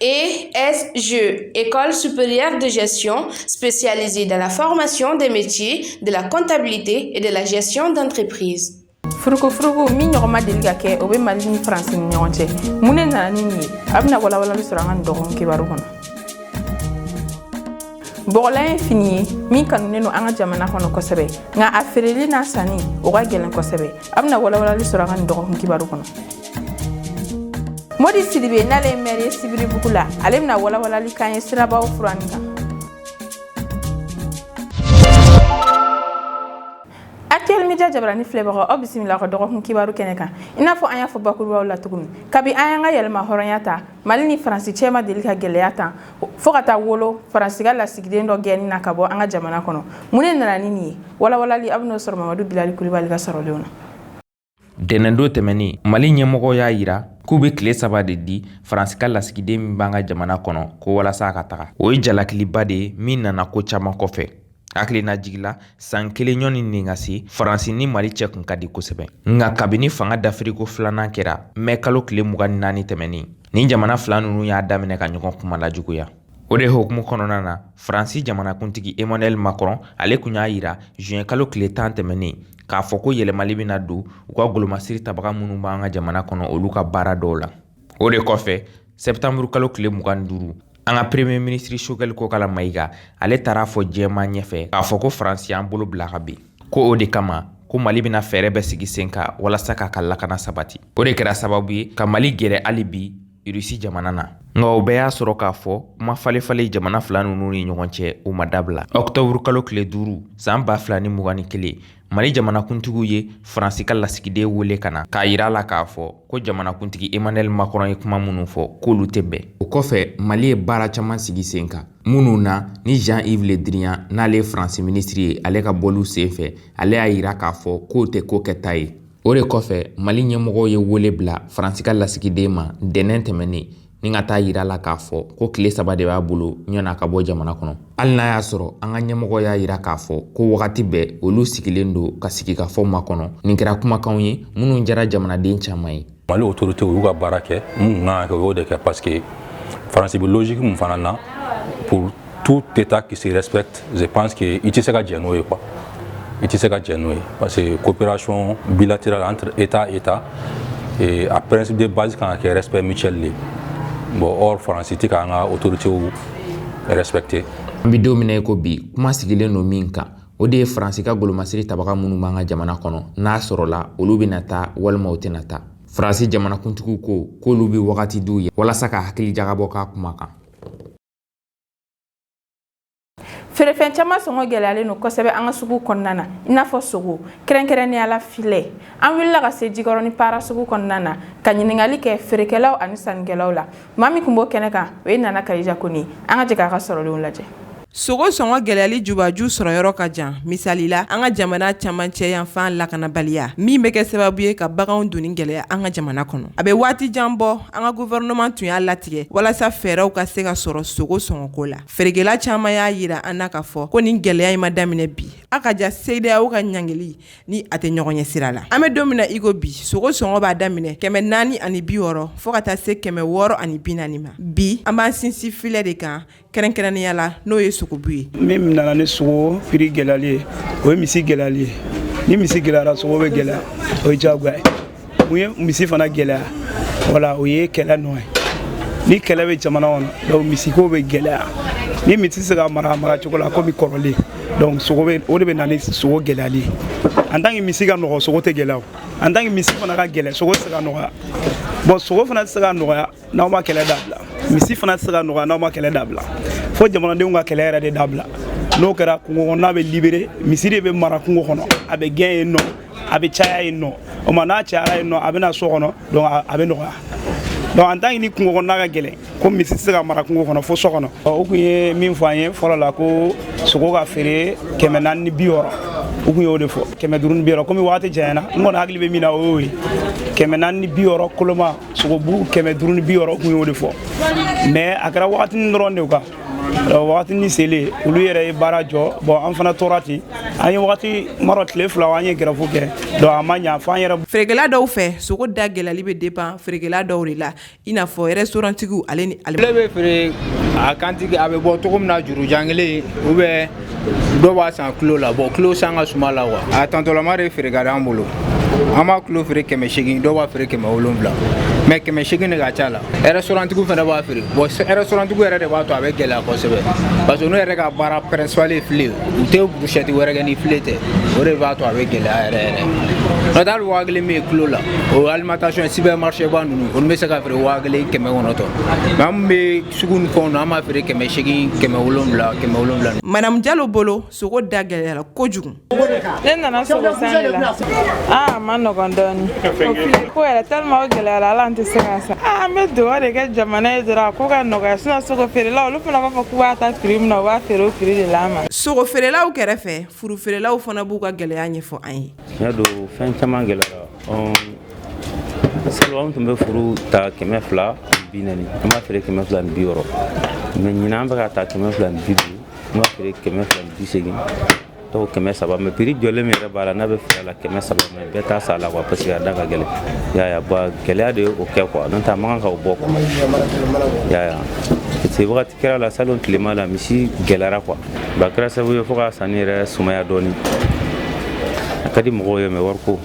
ESG, École supérieure de gestion spécialisée dans la formation des métiers de la comptabilité et de la gestion d'entreprise. furukufuruku min ɲɔgɔn ma deli ka kɛ o bɛ mali ni faransi ni ɲɔgɔn cɛ mun ne nana ni nin ye a bɛna walawalali sɔrɔ an ka nin dɔgɔkun kibaru kɔnɔ bɔgɔlan ye fini ye min kanunen don an ka jamana kɔnɔ kosɛbɛ nka a feereli n'a sanni o ka gɛlɛn kosɛbɛ a bɛna walawalali sɔrɔ an ka nin dɔgɔkun kibaru kɔnɔ modi sidibe n'ale ye mɛri ye sibiribugu la ale bɛna walawalali k'an ye sirabaw furanni kan Actuel Media Jabarani filɛbagaw aw bisimila aw ka dɔgɔkun kibaru kɛnɛ kan i n'a fɔ an y'a fɔ bakurubaw la cogo min kabi an y'an ka yɛrɛmahɔrɔnya ta mali ni faransi cɛ ma deli ka gɛlɛya tan fɔɔ ka taa wolo faransi ka lasigiden dɔ gɛnni na ka bɔ an ka jamana kɔnɔ mun ne nana ni nin ye walawalali aw bɛn'o sɔrɔ mamadu bilali kulibali ka sɔrɔlenw na Ntɛnɛndon tɛmɛnen mali ɲɛmɔgɔw y'a yira k'u bɛ tile saba de di faransi ka lasigiden min b'an ka jamana kɔnɔ ko walasa a ka taga o ye jalakiliba de ye min nana ko caman kɔfɛ hakilinajigin la san kelen ɲɔgɔn ni nin ka se faransi ni mali cɛ kun ka di kosɛbɛ nka kabini fanga dafiriko filanan kɛra mɛ kalo tile mugan ni naani tɛmɛnen nin jamana fila ninnu y'a daminɛ ka ɲɔgɔn kuma la juguya O de hukumu kɔnɔna na faransi jamanakuntigi emmanuɛl macron ale kun y'a yira zuwɛn kalo tile tan tɛmɛnen k'a fɔ ko yɛlɛmali bɛna don u ka golomasiri tabaga minnu b'an ka jamana kɔnɔ olu ka baara dɔw la o de kɔfɛ sɛtanburu kalo tile mugan ni duuru an ka premiye minisiri choguel kokala mayiga ale taar'a fɔ jɛma ɲɛfɛ k'a fɔ ko faransi y'an bolo bila ka bin ko o de kama ko mali bɛna fɛɛrɛ bɛɛ sigi sen kan walasa k'a ka lakana sabati o de kɛra sababu ye ka mali gɛrɛ hali bi irisi jamana na nka o bɛɛ y'a sɔrɔ k'a fɔ kuma falefale jamana fila ninnu ni ɲɔgɔn cɛ o ma dabila ɔktɔburu kalo tile duuru saan ba fila ni mugan ni kelen mali jamanakuntigiw ye faransi ka lasigiden wele ka na k'a yira a la k'a fɔ ko jamanakuntigi emmanuɛl macron ye kuma minnu fɔ k'olu tɛ bɛn o kɔfɛ mali ye baara caman sigi sen kan minnu na ni jean yves le drian n'ale ye faransi minisiri ye ale ka bɔliw sen fɛ ale y'a yira k'a fɔ k'o tɛ ko kɛta ye o de kɔfɛ mali ɲɛmɔgɔw ye wele bila faransi ka lasigiden ma ntɛnɛn tɛmɛnen nin ka t'a yira a la k'a fɔ ko tile saba de b'a bolo ɲɔna ka bɔ jamana kɔnɔ hali n'a y'a sɔrɔ an ka ɲɛmɔgɔw y'a yira k'a fɔ ko wagati bɛɛ olu sigilen don ka sigikafɔ makɔnɔ nin kɛra kumakanw ye minnu jara jamanaden caman ye mali otorite y'u ka baara kɛ minnu kan ka kɛ o y'o de kɛ paseke faransi bɛ logiki min fana na tout état qui se respecte je pense que i tɛ se ka jɛ n'o ye quoi i tɛ se ka jɛ n'o ye parce que coopération bilatérale entre état et état et a principe de base kan ka kɛ respect mutuel de ye bon or faransi tɛ k'an ka autorités respecter an bɛ don min na i ko bi kuma sigilen don min kan o de ye faransi ka golomasiri tabaga minnu b'an ka jamana kɔnɔ n'a sɔrɔla olu bɛna taa walima u tɛna taa faransi jamanakuntigiw ko k'olu bɛ wagati d'u ye walasa ka hakili jagabɔ k'a kuma kan feerefɛn caman sɔngɔ gɛlɛyalen don kosɛbɛ an ka sugu kɔnɔna na i n'a fɔ sogo kɛrɛnkɛrɛnnenya la filɛ an wulila ka se jikɔrɔni para sugu kɔnɔna na ka ɲininkali kɛ feerekɛlaw ani sannikɛlaw la maa min tun b'o kɛnɛ kan o ye nana kadija koni an ka jɛ k'a ka sɔrɔlenw lajɛ sogo sɔngɔ gɛlɛyali jubaju sɔrɔyɔrɔ ka jan misali la an ka jamana camancɛ yanfan lakanabaliya min bɛ kɛ sababu ye ka baganw donni gɛlɛya an ka jamana kɔnɔ a bɛ waati jan bɔ An ka gouvernement tun y'a latigɛ walasa fɛɛrɛw ka se ka sɔrɔ sogo sɔngɔko la. Feerekɛla caman y'a yira an na k'a fɔ ko nin gɛlɛya in ma daminɛ bi. A ka jan CEDEAO ka ɲangili ni a tɛ ɲɔgɔn ɲɛ sira la. An bɛ don min na i ko bi, sogo sɔngɔ b'a daminɛ kɛmɛ naani ani bi wɔɔrɔ fo ka taa se kɛmɛ wɔɔrɔ ani bi naani ma. Bi, an b'an sinsin filɛ de kan kɛrɛnkɛrɛnnenya la n'o ye sogobu ye min nana ni sogo prix gɛlɛyali ye o ye misi gɛlɛyali ye ni misi gɛlɛyara sogo bɛ gɛlɛya o ye jagoya ye mun ye misi fana gɛlɛya wala o ye kɛlɛ nɔ ye ni kɛlɛ bɛ jamana kɔnɔ donc misiko bɛ gɛlɛya ni misi tɛ se ka mara mara cogo la komi kɔrɔlen donc sogo bɛ o de bɛ na ni sogo gɛlɛyali ye en tant que misi ka nɔgɔ sogo tɛ gɛlɛya o en tant que misi fana ka gɛlɛn sogo tɛ se ka nɔgɔya bon sogo fana tɛ se ka nɔgɔya n'aw ma kɛlɛ dabila misi fana tɛ se ka nɔgɔya n'aw ma kɛlɛ dabila fo jamanadenw ka kɛlɛ yɛrɛ de dabila n'o kɛra kungo kɔnɔna bɛ libéré misi de bɛ mara kungo kɔnɔ a bɛ gɛn yen nɔ a bɛ caya yen nɔ o ma n'a cayara yen nɔ a bɛ na so kɔnɔ donc a bɛ nɔgɔya donc en tant que ni kungo kɔnɔna ka gɛlɛn ko misi tɛ se ka mara kungo kɔnɔ fo so kɔnɔ o tun ye min fɔ an ye fɔlɔ la ko sogo ka feere kɛmɛ naani ni bi wɔɔrɔ u tun y'o de fɔ kɛmɛ duuru ni bi wɔɔrɔ komi wagati janyana n kɔni hakili bɛ min na o y'o ye kɛmɛ naani ni bi wɔɔrɔ koloma sogobu kɛmɛ duuru ni bi wɔɔrɔ u kun y'o de fɔ mais a kɛra wagatinin dɔrɔn de kan wagatinin selen olu yɛrɛ ye baara jɔ bon an fana tora ten an ye wagati marɔ tile fila an ye grève kɛ donc a ma ɲa fo an yɛrɛ feerekɛla dɔw fɛ sogo da gɛlɛyali bɛ dépend feerekɛla dɔw de la i n'a fɔ restauranttigiw ale ni ale bɛ feere a kantigi a bɛ bɔ cogo min na jurujan kelen ou bien dɔw b'a san kilo la bon kilo san ka suma la quoi a tantɔlama de feere ka d'an bolo an b'a kilo feere kɛmɛ segin dɔw b'a feere kɛmɛ wolonwula mais kɛmɛ segin de ka ca la restauranttigiw fana b'a feere bon restauranttigiw yɛrɛ de b'a to a bɛ gɛlɛya kosɛbɛ parce que n'u yɛrɛ ka baara principal ye file u tɛ brochette wɛrɛ kɛ ni file tɛ o de b'a to a bɛ gɛlɛya yɛrɛ yɛrɛ n'o tɛ hali waa kelen min ye kilo la o alimentation supermarché ba ninnu olu bɛ se ka feere waa kelen kɛmɛ kɔnɔntɔn mais an bɛ sugu ni fɛnw na an b'a feere kɛmɛ seegin kɛmɛ wolonwula kɛmɛ wolonwula madamu jalo bolo sogo da gɛlɛyara kojugu ne nana sogo san de la a man nɔgɔn dɔɔni ko yɛrɛ tellement o gɛlɛyara ala an tɛ se k'a san aa an bɛ dugawu de kɛ jamana ye dɔrɔn a ko ka nɔgɔya sinon sogo feerelaw olu fana b'a fɔ k'u b'a ta piri min na u b'a feere o piri de la an ma sogo feerelaw kɛrɛfɛ furu feerelaw fana b'u ka gɛlɛya ɲɛfɔ an ye tiɲɛ don fɛn caman gɛlɛyara Salon an tun bɛ furu ta kɛmɛ fila bi naani an b'a feere kɛmɛ fila bi wɔɔrɔ mɛ ɲinan an bɛ k'a ta kɛmɛ fila bi duuru an b'a feere kɛmɛ fila bi seegin dɔw kɛmɛ saba mɛ piri jɔlen min yɛrɛ b'a la n'a bɛ feere la kɛmɛ saba mɛ bɛɛ t'a san la kuwa parce que a da ka gɛlɛn y'a ba gɛlɛya de ye o kɛ kuwa n'o tɛ a man kan ka o bɔ kuwa y'a parce que wagati kɛra la salon tilema la misi gɛlɛyara kuwa ba kɛra sababu ye fo ka sanni yɛrɛ sumaya dɔɔni a ka di mɔgɔw ye mɛ wariko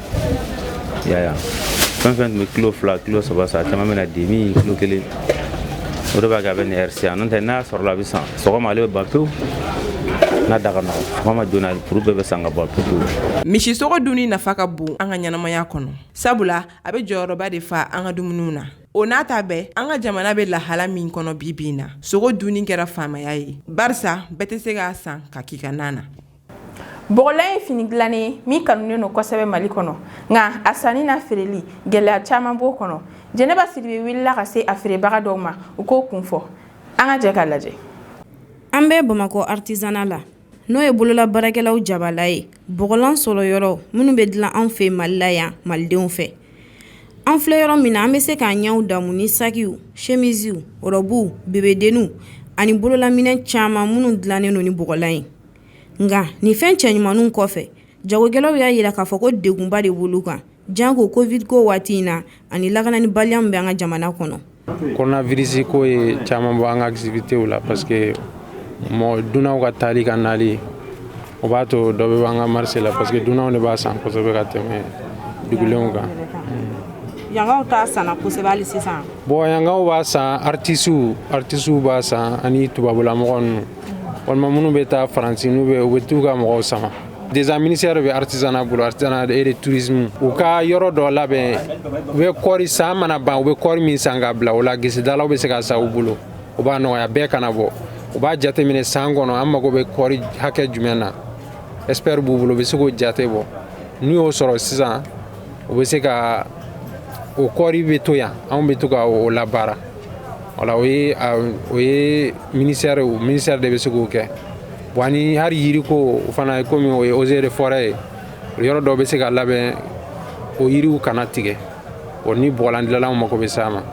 y'a fɛn fɛn tun bɛ kilo fila kilo saba san caman bɛ na demi kilo kelen o de b'a kɛ a bɛ nin ɛri si yan n'o tɛ n'a sɔrɔla a bɛ san sɔgɔma ale bɛ ban pewu n'a da ka nɔgɔ sɔgɔma joona furu bɛɛ bɛ san ka ban pewu misi sogo dunni nafa ka bon an ka ɲɛnamaya kɔnɔ sabula a bɛ jɔyɔrɔba de fa an ka dumuniw na O n'a ta bɛɛ an ka jamana bɛ lahala min kɔnɔ bi bi in na sogo dunni kɛra faamaya ye barisa bɛɛ tɛ se k'a san ka k'i ka na na bɔgɔlan ye fini dilannen ye min kanunen don kosɛbɛ mali kɔnɔ nka a sanni n'a feereli gɛlɛya caman b'o kɔnɔ jɛnɛba sidibe wulila ka se a feerebaga dɔw ma u k'o kun fɔ an ka jɛ k'a lajɛ an bɛ bamakɔ aritizana la N'o ye bolola baarakɛlaw jabala ye bɔgɔlan sɔrɔ yɔrɔ minnu bɛ dilan anw fɛ mali la yan malidenw fɛ an filɛ yɔrɔ min na an bɛ se k'an ɲɛw damu ni sakiw semisiw rɔbuw bebedenninw ani bololaminɛ caman minnu dilannen don ni bɔgɔlan ye nka nin fɛn cɛɲumanninw kɔfɛ jagokɛlaw y'a yira k'a fɔ ko degunba de b'olu kan Janko covid ko waati in na ani lakananibaliya min bɛ an ka jamana kɔnɔ koronavirisi ko ye caman bɔ an ka activitéw la parce que mɔgɔ dunanw ka taali ka nali o b'a to dɔ bɛ bɔ an ka marise la parce que dunanw de b'a san kosɛbɛ ka tɛmɛ dugulenw kan yankaw t'a san na kosɛbɛ hali sisan bon yankaw b'a san aritisiw aritisiw b'a san ani tubabulamɔgɔ ninnu walima minnu bɛ taa faransi n'u bɛ u bɛ taa u ka mɔgɔw sama deza minisɛri bɛ aritizana bolo aritizana et de tourisme u ka yɔrɔ dɔ labɛn u bɛ kɔɔri san mana ban u bɛ kɔɔri min san k'a bila o la gesedalaw bɛ se k'a san u bolo o b'a nɔgɔya bɛɛ kana bɔ u b'a jateminɛ san kɔnɔ an mago bɛ kɔɔri hakɛ jumɛn na espɛri b'u bolo u bɛ se k'o jate bɔ n'u y'o sɔrɔ sisan u bɛ se ka o kɔɔri bɛ to yan anw bɛ to ka o labaara wala o ye o ye minisɛri minisɛri de bɛ se k'o kɛ Bon ani hali yiri ko o fana komi o ye eaux et forêts ye yɔrɔ dɔ bɛ se ka labɛn o yiriw kana tigɛ o ni bɔgɔlandilanlaw mako bɛ s'a ma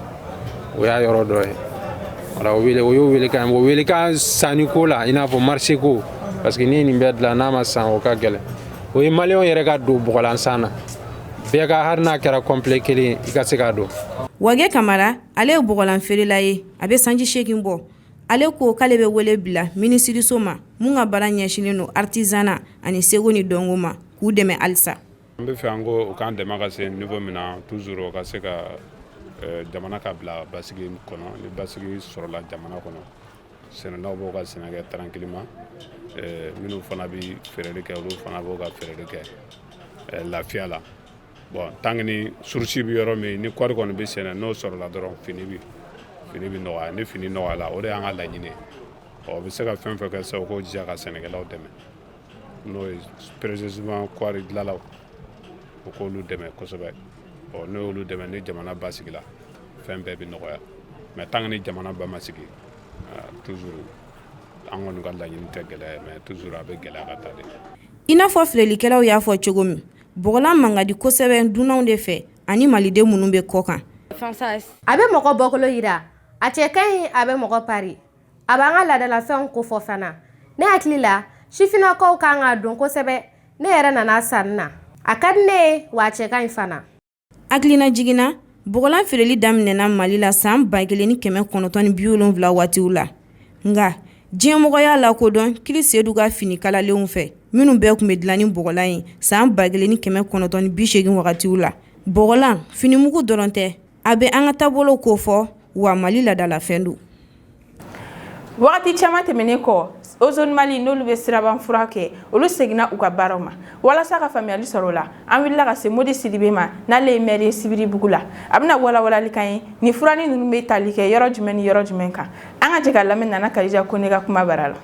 o y'a yɔrɔ dɔ ye wala o y'o weele kan o weele ka sanni ko la i n'a fɔ marché ko parce que ni nin bɛɛ dilan n'a ma san o ka gɛlɛn o ye maliyɛnw yɛrɛ ka don bɔgɔlan san na bɛɛ ka hali n'a kɛra complet kelen i ka se k'a don Wage Kamara ale ye bɔgɔlan feerela ye a bɛ sanji segin bɔ Ale ko k'ale bɛ wele bila minisiriso ma min ka baara ɲɛsinnen don artisanat ani seko ni dɔnko ma k'u dɛmɛ halisa. An bɛ fɛ an ko u k'an dɛmɛ ka se niveau min na toujours u ka se ka jamana ka bila basigi kɔnɔ ni basigi sɔrɔla jamana kɔnɔ sɛnɛlaw b'u ka sɛnɛ kɛ tranquillement minnu fana bɛ feereli kɛ olu fana b'u ka feereli kɛ lafiya la. Bon tant que ni source bɛ yɔrɔ min ni kɔɔri kɔni bɛ sɛnɛ n'o sɔrɔla dɔrɔn fini bɛ fini bɛ nɔgɔya ni fini nɔgɔyala o de y'an ka laɲini u bɛ se ka fɛn fɛn kɛ sa u k'u jija ka sɛnɛkɛlaw dɛmɛ n'o ye précisément kɔɔri dilanlaw u k'olu dɛmɛ kosɛbɛ ɔ n'o y'olu dɛmɛ ni jamana basigila fɛn bɛɛ bɛ nɔgɔya mais tant que ni jamana ba ma sigi toujours an kɔni ka laɲini tɛ gɛlɛya mais toujours a bɛ gɛlɛya ka taa de i n'a fɔ filɛlikɛlaw y'a fɔ cogo min Bɔgɔlan man ka di kosɛbɛ dunanw de fɛ ani maliden minnu bɛ kɔkan a bɛ mɔgɔ bɔkolo jira a cɛ ka ɲi a bɛ mɔgɔ pari a b'an ka laadalafɛnw kofɔ fana ne hakili la sifinnakaw ka kan k'a don kosɛbɛ ne yɛrɛ nana sanni na a ka di ne ye wa a cɛ ka ɲi fana Hakilinajigin na bɔgɔlan feereli daminɛna mali la san ba kelen ni kɛmɛ kɔnɔntɔn ni bi wolonwula waatiw la nka diɲɛmɔgɔ y'a lakodɔn Chris Seydou ka fini kalalenw fɛ minnu bɛɛ tun bɛ dilan ni bɔgɔlan ye san ba kelen ni kɛmɛ kɔnɔntɔn ni bi segin wagatiw la bɔgɔlan finimugu dɔrɔn tɛ a bɛ an ka taabolo kofɔ wa mali laadalafɛn don Wagati caman tɛmɛnen kɔ Ozone Mali n'olu bɛ siraba furan kɛ olu seginna u ka baaraw ma walasa ka faamuyali sɔrɔ o la an wulila ka se Modi Sidibe ma n'ale ye mɛri ye sibiribugu la a bɛna walawalali k'an ye ni furanni ninnu bɛ tali kɛ yɔrɔ jumɛn ni yɔrɔ jumɛn kan an ka jɛ k'a lamɛn Nana Kadija Kɔnɛ ka kuma bara la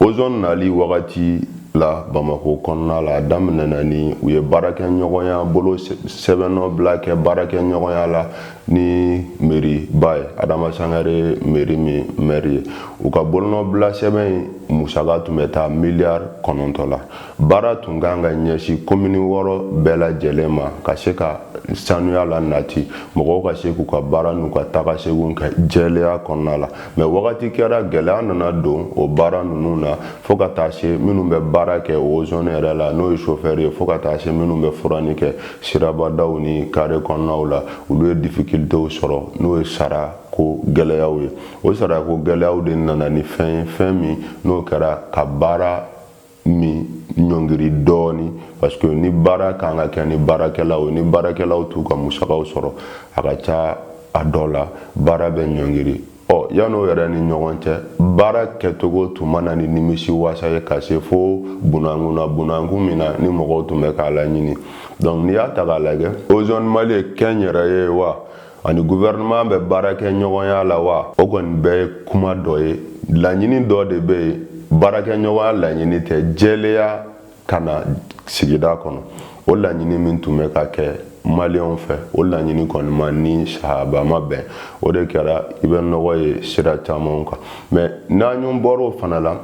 ozɔn nali wagati la bamako kɔnɔna la a daminɛ na ni u ye baarakɛɲɔgɔnya bolo sɛbɛnnɔ bila kɛ baarakɛɲɔgɔnya la ni meriba ye adama sangare meri min mɛri ye u ka bolonɔbila sɛbɛn musaka tun bɛ taa miliyari kɔnɔntɔn la baara tun ka kan ka ɲɛsin komini wɔɔrɔ bɛɛ lajɛlen ma ka se ka sanuya lanati mɔgɔw ka se k'u ka baara n'u ka taga seginw kɛ jɛlenya kɔnɔna la mɛ wagati kɛra gɛlɛya nana don o baara ninnu na fo ka taa se minnu bɛ baara kɛ ozone yɛrɛ la n'o ye sofɛri ye fo ka taa se minnu bɛ furani kɛ sirabadaw ni kare kɔnɔnaw la olu ye difikilitew sɔrɔ n'o ye sarako gɛlɛyaw ye o sarako gɛlɛyaw de nana ni fɛn ye fɛn min n'o kɛra ka baara min ɲɔngiri dɔɔni parce que ni baara ka kan ka kɛ ni baarakɛlaw ni baarakɛlaw t'u ka musakaw sɔrɔ a ka ca a dɔ la baara bɛ ɲɔngiri ɔ yan'o yɛrɛ ni ɲɔgɔn cɛ baara kɛcogo tun ma na ni nimisi wasa ye ka se fo bunankun na bunankun min na ni mɔgɔw tun bɛ k'a laɲini donc n'i y'a ta k'a lajɛ ozone mali ye kɛnyɛrɛye ye wa ani gouvernement bɛ baarakɛɲɔgɔnya la wa o kɔni bɛɛ ye kuma dɔ ye laɲini dɔ de bɛ yen baarakɛɲɔgɔnya laɲini tɛ jɛleya ka na sigida kɔnɔ o laɲini min tun bɛ ka kɛ maliyɛnw fɛ o laɲini kɔni ma ni sahaba ma bɛn o de kɛra i bɛ nɔgɔ ye sira camanw kan mɛ n'an ɲun bɔr'o fana la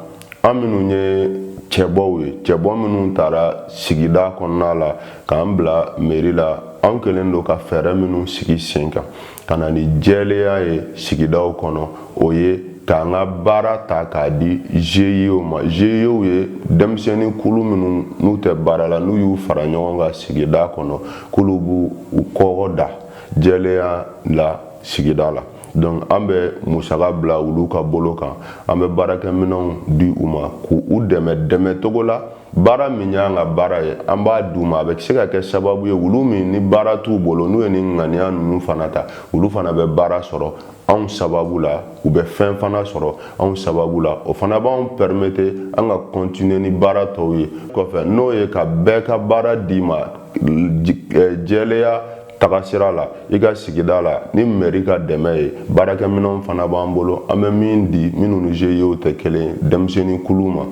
an minnu ye cɛbɔw ye cɛbɔ minnu taara sigida kɔnɔna la k'an bila meri la an kɛlen don ka fɛɛrɛ minnu sigi sen kan ka na ni jɛleya ye sigidaw kɔnɔ o ye k'an ka baara ta k'a di GIEw ma GIEw ye denmisɛnnin kulu minnu n'u tɛ baara la n'u y'u fara ɲɔgɔn kan sigida kɔnɔ k'olu b'u kɔgɔ da jɛlenya la sigida la donc an bɛ musaka bila olu ka bolo kan an bɛ baarakɛminɛnw di u ma k'u dɛmɛ dɛmɛcogo la baara min y'an ka baara ye an b'a d'u ma a bɛ se ka kɛ sababu ye olu min ni baara t'u bolo n'u ye ni ŋaniya ninnu fana ta olu fana bɛ baara sɔrɔ anw sababu la u bɛ fɛn fana sɔrɔ anw sababu la o fana b'anw permettre an ka continuer ni baara tɔw ye kɔfɛ n'o ye ka bɛɛ ka baara d'i ma jɛleya tagasira la i ka sigida la ni mɛri ka dɛmɛ ye baarakɛminɛnw fana b'an bolo an bɛ min di minnu ni GIEw tɛ kelen denmisɛnnin kulu ma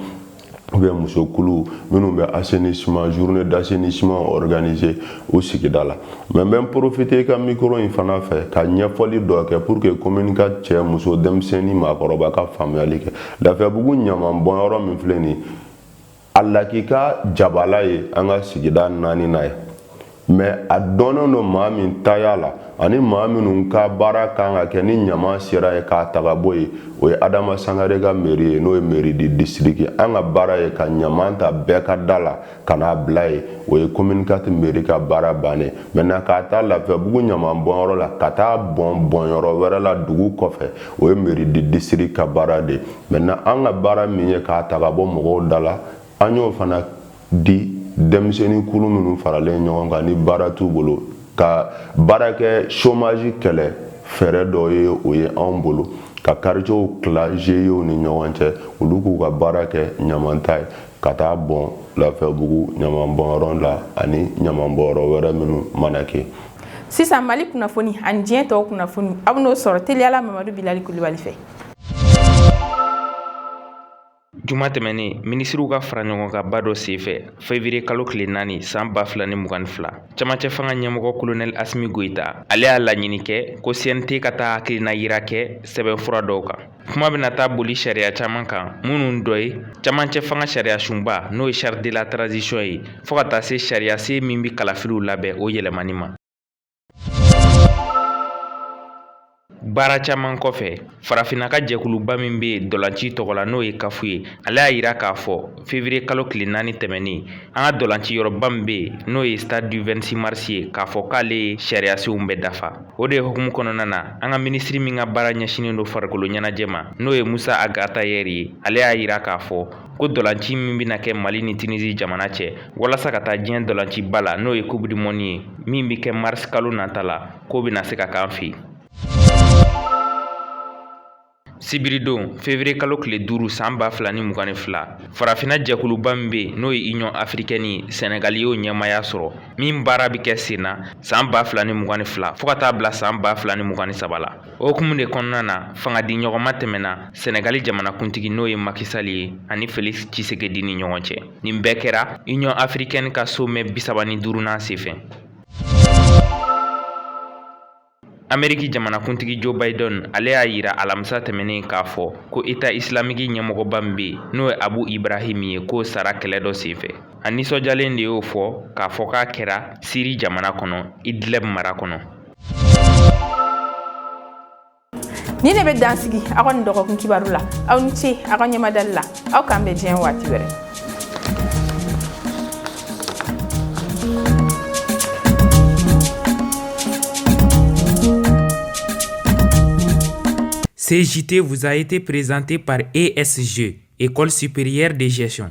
ou bien muso kulu minnu bɛ assainissement journée d'assainissement organiser u sigida la mɛ n bɛ n profiter i ka mikoro in fana fɛ ka ɲɛfɔli dɔ kɛ pour que commune ka cɛ muso denmisɛnnin maakɔrɔba ka faamuyali kɛ lafiyabugu ɲaman bɔnyɔrɔ min filɛ nin a lakika jabala ye an ka sigida naaninan ye mɛ a dɔnnen don maa min taya la ani maa minnu ka baara kan ka kɛ ni ɲaman sera yen k'a ta ka bɔ yen o ye adama sangare ka mɛri ye n'o ye mairie du district an ka baara ye ka ɲaman ta bɛɛ ka da la ka n'a bila yen o ye commune quatre mɛri ka baara bannen maintenant k'a ta lafiyabugu ɲaman bɔnyɔrɔ la ka t'a bɔn bɔnyɔrɔ wɛrɛ la dugu kɔfɛ o ye mairie du district ka baara de ye maintenant an ka baara min ye k'a ta ka bɔ mɔgɔw da la an y'o fana di denmisɛnnin kulu minnu faralen ɲɔgɔn kan ni baara t'u bolo ka baara kɛ chômage kɛlɛ fɛɛrɛ dɔ ye o ye anw bolo ka quartierw tila GIEw ni ɲɔgɔn cɛ olu k'u ka baara kɛ ɲamanta ye ka taa bɔn lafiyabugu ɲamanbɔnyɔrɔ la ani ɲamanbɔnyɔrɔ wɛrɛ minnu mana kɛ sisan mali kunnafoni ani diɲɛ tɔw kunnafoni aw n'o sɔrɔ teliya la mamadu bilali kulubali fɛ Juma tɛmɛnen minisiriw ka fara ɲɔgɔn kan ba dɔ senfɛ fevrier kalo tile naani san ba fila ni mugan ni fila camancɛ fanga ɲɛmɔgɔ kolonɛl asimi goyita ale y'a laɲini kɛ ko cnt ka taa hakilina yira kɛ sɛbɛnfura dɔw kan kuma bɛna taa boli sariya caman kan minnu dɔ ye camancɛ fanga sariya sunba n'o ye charte de la transition ye fɔɔ ka taa se sariya sen min bɛ kalafiliw labɛn o yɛlɛmani ma baara caman kɔfɛ farafinna ka jɛkuluba min bɛ dɔlanci tɔgɔ la n'o ye CAF ye ale y'a yira k'a fɔ fevrier kalo tile naani tɛmɛnen an ka dɔlanci yɔrɔba min bɛ yen n'o ye stade du 26 mars ye k'a fɔ k'ale ye sariyasenw bɛɛ dafa o de hukumu kɔnɔna na an ka minisiri min ka baara ɲɛsinnen don farikolo ɲɛnajɛ ma n'o ye musa ag atahɛri ye ale y'a yira k'a fɔ ko dɔlanci min bɛna kɛ mali ni tunisi jamana cɛ walasa ka taa diɲɛ dɔlanciba la n'o ye coupe du monde ye min bɛ kɛ mars kalo nata la k'o bɛna se ka k'an fɛ yan sibiridon fevrier kalo tile duuru san ba fila ni mugan ni fila farafinna jɛkuluba min be n'o ye union africaine ye sɛnɛgali y'o ɲɛmaaya sɔrɔ min baara be kɛ sen na san ba fila ni mugan ni fila fɔɔ ka t'a bila san ba fila ni mugan ni saba la O hukumu de kɔnɔna na fanga di ɲɔgɔn ma tɛmɛna Senegali jamanakuntigi n'o ye Macky Sall ye ani Felix Tshisekedi ni ɲɔgɔn cɛ. Nin bɛɛ kɛra Union africaine ka sommet bisaba ni duurunan senfɛ. Ameriki jamanakuntigi Joe Biden ale y'a yira alamisa tɛmɛnen k'a fɔ ko Eta Islamiki ɲɛmɔgɔba min bɛ n'o ye Abu Ibrahim ye k'o sara kɛlɛ dɔ senfɛ. A nisɔndiyalen de y'o fɔ k'a fɔ k'a kɛra Siri jamana kɔnɔ Idlib mara kɔnɔ. nin de bɛ dan sigi aw ka nin dɔgɔkun kibaru la aw ni ce aw ka ɲɛmadali la aw k'an bɛn diɲɛ waati wɛrɛ Ce JT vous a été présenté par ESG, École supérieure de gestion.